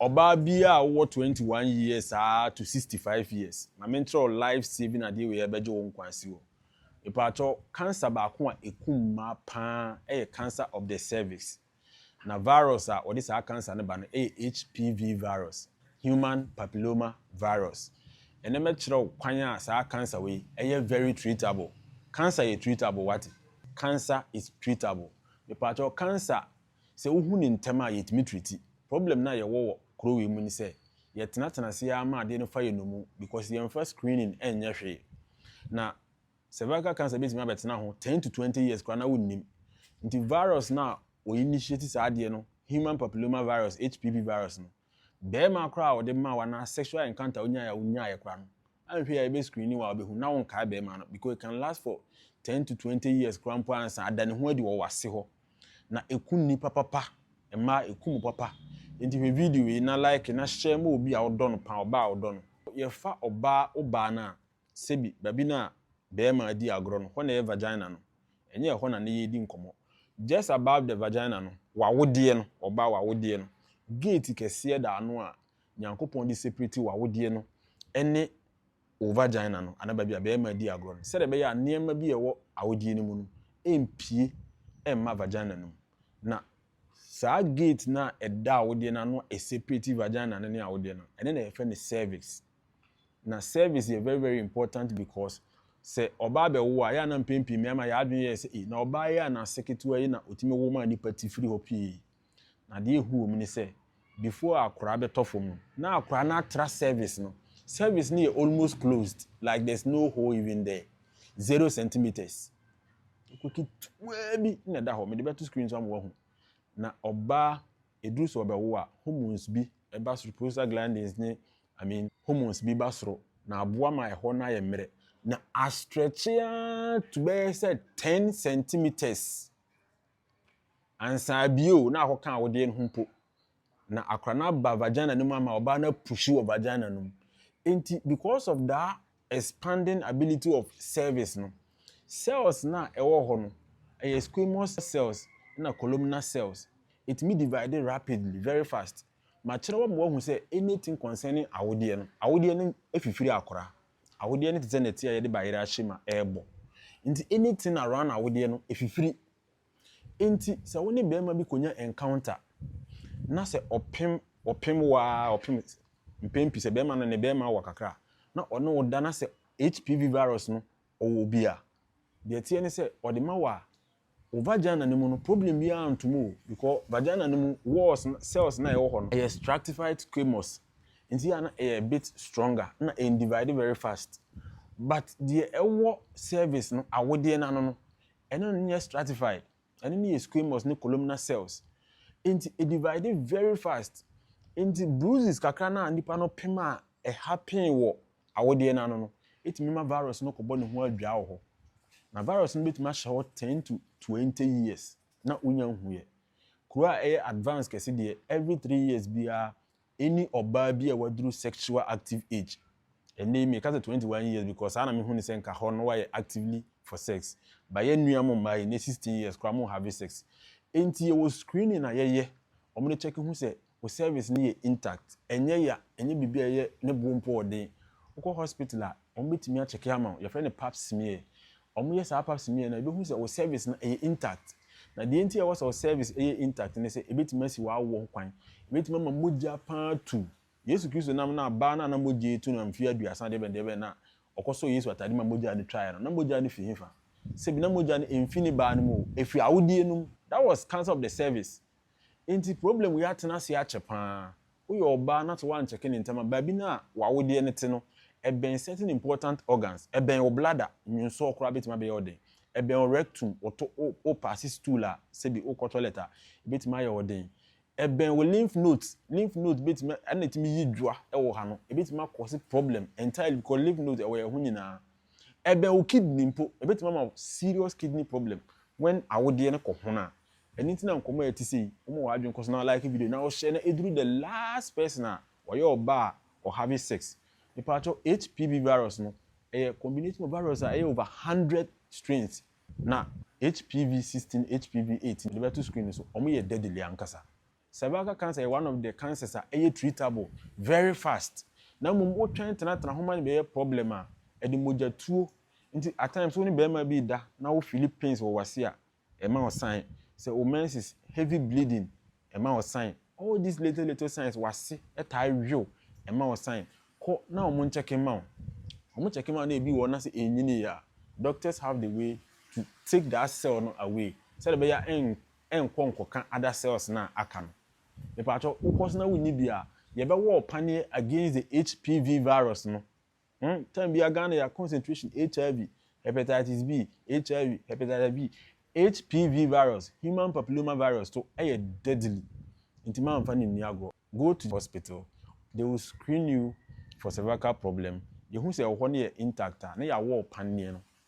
Ɔbaa biaa wowɔ twenty one years aa to sixty five years ma mentrɛw life saving adeɛ wei a ɛbɛgye wo nkwa asi hɔ mepaatɔ cancer baako a ɛkum mmaa paa ɛyɛ cancer of the cervix na virus a ɔde saa cancer no ba no ɛyɛ HPV virus human papilloma virus ɛnɛ mɛkyerɛ wo kwan a saa cancer wei ɛyɛ very treatable cancer yɛ treatable wate cancer is treatable mepaatɔ cancer Sɛ wohu no ntɛm a, yetumi treati. Problem no a yɛwɔ wɔ kurow wei mu ne sɛ, yɛtenatena ase ara ma adeɛ no fa yɛn nnommum because yɛmfa screening nyɛ hwee. Na cervical cancer betumi abɛtena ho ten to twenty years koraa na wonnim. Nti virus no a wɔinitiati saa adeɛ no, human papilloma virus, HPV virus no, Bɛɛma koraa a wɔde maa wo anaa sexual encounter a wonyae a wonyaeɛ koraa no, anhwɛ yi a yɛbɛ screeni wo a wobɛhu na wonkae bɛɛma no because it can last for ten to twenty years koraa mpo ansa ada ne ho adi wɔ wase hɔ. Na ɛku nnipa papa, mmaa ɛku mo papa. Enti hwɛ video yi na like na share ma obi a wodɔ no paa, ɔbaa a wodɔ no. Yɛfa ɔbaa, wo baa no a, Sebi, baabi no a bɛɛma di agorɔ no, hɔ na ɛyɛ vagina no. Ɛnyɛ ɛhɔ na ne yɛ di nkɔmɔ. Just above the vagina no, w'awodeɛ no, ɔbaa w'awodeɛ no, gate kɛseɛ da ano a Nyankopɔn de separate w'awodeɛ no ne wo vagina no, anaa baabi a bɛɛma di agorɔ no, sɛdeɛ ɛbɛyɛ a nneɛma bi a ɛwɔ awodeɛ no mu no mpue mma vagina no mu. Na saa gate no a ɛda awodeɛ no ano a ɛseparate vagina no ne awodeɛ no, ɛno na yɛfrɛ no cervix. Na service yɛ very very important because sɛ ɔbaa bɛwo a, ɛyɛ a na mpɛn pii mmarima yɛn adwene yɛ sɛ, ei, na ɔbaa yi a n'ase ketewa yi na ɔtumi wo maa nnipa ti firi hɔ pii yi. Na deɛ ɛhu wɔ mu ne sɛ, before akwadaa bɛtɔ fam no, na akwadaa no atra service no. Service no yɛ almost closed, like there's no hole even there, zero centimetres. Kuro ketewaa bi na ɛda hɔ, mede bɛto screen so ama woahu. Na ɔbaa Ɛduru sɛ ɔbɛwo a, hormones bi ba soro, prostaglandins ne I mean hormones bi ba soro na aboa ma ɛhɔ no ayɛ mmerɛ na astretche ara to bɛyɛ sɛ ten centimetres ansa abie o na akɔka awodeɛ no ho mpo na akora no aba vagina no mu ama ɔbaa no apuhyi wɔ vagina no mu. Enti because of that expanding ability of cervix no, cells no a ɛwɔ hɔ no, ɛyɛ squamous cells na columnar cells. Ɛtumi divide rapidly, very fast. Makyerɛw ama woahu sɛ anything concerning awodeɛ no, awodeɛ no fifiri akora. Awodeɛ no te sɛ nɛte a yɛde bayerɛ ahyɛ mu a ɛrebɔ. Nti anything around awodeɛ no fifiri. Enti sɛ wo ne barima bi kɔnya encounter na sɛ ɔpem ɔpem wo ara ɔpem mpɛn pii sɛ barima no ne barima wɔ kakra a na ɔne wo da na sɛ HPV virus no ɔwɔ bi a, deɛ ɛteɛ ne sɛ ɔde ma wo a, wo vagina no mu no problem biara nto mu o because vagina no mu walls no, cells no a ɛwɔ hɔ no, ɛyɛ stratified squamous nti a na ɛyɛ a bit stronger na ɛndivide very fast but deɛ ɛwɔ cervix no, awodeɛ no ano no, Ɛno no nyɛ stratified, ɛno no yɛ squamous ne columnar cells, enti ɛdivide very fast, enti bruises kakra no a nipa no pem a ɛhappen wɔ awodeɛ no ano no tumi ma virus no kɔbɔ ne ho adwaa wɔ hɔ, na virus no bɛtumi ahyɛ hɔ ten to twenty years na wonya nhuiɛ. Kuro a ɛyɛ advanced kɛse deɛ, every three years biara Any ɔbaa bi a waduru sexual active age, ɛnɛ yi me ka sɛ twenty one years because saa na me hu ne sɛ nka hɔ no wayɛ actively for sex but yɛn nua mo mmaa yi ɛnɛ sixteen years koraa ɔmo nhave sex enti yɛwɔ screening a yɛyɛ ɔmo de check hu sɛ wo cervix no yɛ intact ɛnyɛ ya ɛnyɛ biribi a ɛyɛ ne bo mpo ɔden wokɔ hospital a Wɔbɛtumi akyɛke ama wo, yɛfrɛ no pap smear. Wɔyɛ saa pap smear no a, yɛbɛhu sɛ wo cervix no ɛyɛ intact. Na deɛ nti a ɛwɔ sɛ wo cervix yɛ intact ne sɛ, ɛbɛtumi asi w'awoɔ ho kwan. Ɛbɛtumi ama mogya pa ara atu. Yesu Kristo nam no a, baa no a na mogya retu no mfeɛ aduasa deɛbɛn deɛbɛn no a, ɔkɔsɔɔ Yesu atadeɛ ma mogya no twaeɛ no, na mogya no firi hefa? Sɛbi na mogya no ɛmfiri ne baa no mu o, ɛfiri awodeɛ no mu. That was cancer of the cervix. Enti problem yi atena ase akyɛ paa. Woyɛ ɔbaa na sɛ woankyɛke ne ntɛm a, baabi no a w'awodeɛ no te no, ɛbɛn certain important organs, ɛbɛn wo bladder, nwonsɔɔ koraa bɛtumi abɛyɛ wo den, ɛbɛn wo rectum, woto, wo, wo paase stool a, sɛbi wokɔ toilet a, ɛbɛtumi ayɛ wo den, ɛbɛn wo lymph nodes, lymph nodes bɛtumi, ɛna ɛtumi yi dwa wɔ ha no, ɛbɛtumi a cause problem entirely because lymph nodes ɛwɔ yɛn ho nyinaa. Ɛbɛn wo kidney mpo, ɛbɛtumi ama wo serious kidney problem when awodeɛ no kɔ hono a. Ɛno nti na nkɔmmɔ a ɛte sɛ yi, woma w'adwene kɔ so na like video yi na wo share na ɛduru the last person a ɔyɛ ɔbaa a ɔ have sex. Mepaatwɔ HPV virus no, ɛyɛ combination of virus a ɛyɛ over hundred strains na HPV sixteen, HPV eighteen, mede bɛto screen no so, wɔyɛ deadly ankasa. Cervical cancer yɛ one of the cancers a ɛyɛ treatable very fast na mmom wo twɛn tenatena ho ma no bɛyɛ problem a, ɛde mogya tuo nti at times wo ne barima bi reda na wo fili pains wɔ w'ase a, ɛma wo sign sɛ wo menses, heavy bleeding, ɛma wo sign all these little little signs, w'ase taa yow, ɛma wo sign, kɔ na wɔn nkyɛke mma wo, wɔn kyɛke mma wo na ebi wɔ hɔ na sɛ ɛnnyiniiɛ a, doctors have the way to take that cell no away sɛdeɛ ɛbɛyɛ a nkɔ nkɔka other cells no a aka no. Mepakyɛw, wokɔ so na wunni bi a, yɛbɛwɔ wo paneɛ against the HPV virus no. Hm, time biara Ghana yɛ concentration HIV, Hepatitis B, HIV, Hepatitis B, HPV virus, Human Papilloma virus to ɛyɛ deadly. Nti mamfa no nni agorɔ. Go to the hospital, they will screen you for cervical problem, yɛhu sɛ ɛwɔ hɔ na ɛyɛ intact a, na yɛawɔ wo paneɛ no.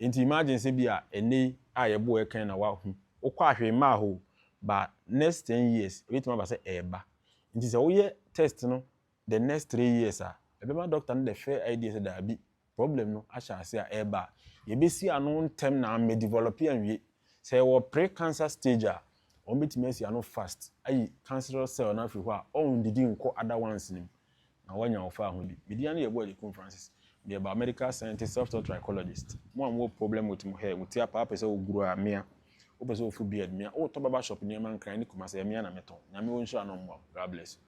Enti imagine sɛ bi a ɛnnɛ yi a yɛboɔ yɛ kan na wahu, wokɔ a hwee mmaa hɔ o, but next ten years ɛbɛtumi aba sɛ ɛreba. Nti sɛ woyɛ test no the next three years a, ɛbɛma doctor no the fair idea sɛ daabi, problem no ahyɛ aseɛ a ɛreba a, yɛbɛsi ano ntɛm na ammɛ develop anwie. Sɛ ɛwɔ pre-cancer stage a, wɔbɛtumi asi ano fast ayi cancerous cell no afiri hɔ a ɔnndidi nnkɔ other ones no mu. na woanya wo faahodi. Me din ara ne yɛ Boajikum Francis. Me yɛ biomedical scientist, self-taught trichologist. Mo a mo wɔ problem with mo hair, wo ti apa, wo pɛ sɛ wo grow a, mea. Wo pɛ sɛ wo fu beard, mea. Wo tɔ barber shop nneɛma nkran ne Kumasi a, mea na me tɔn. Nyame onhyira na ɔmmoa wo. God bless you.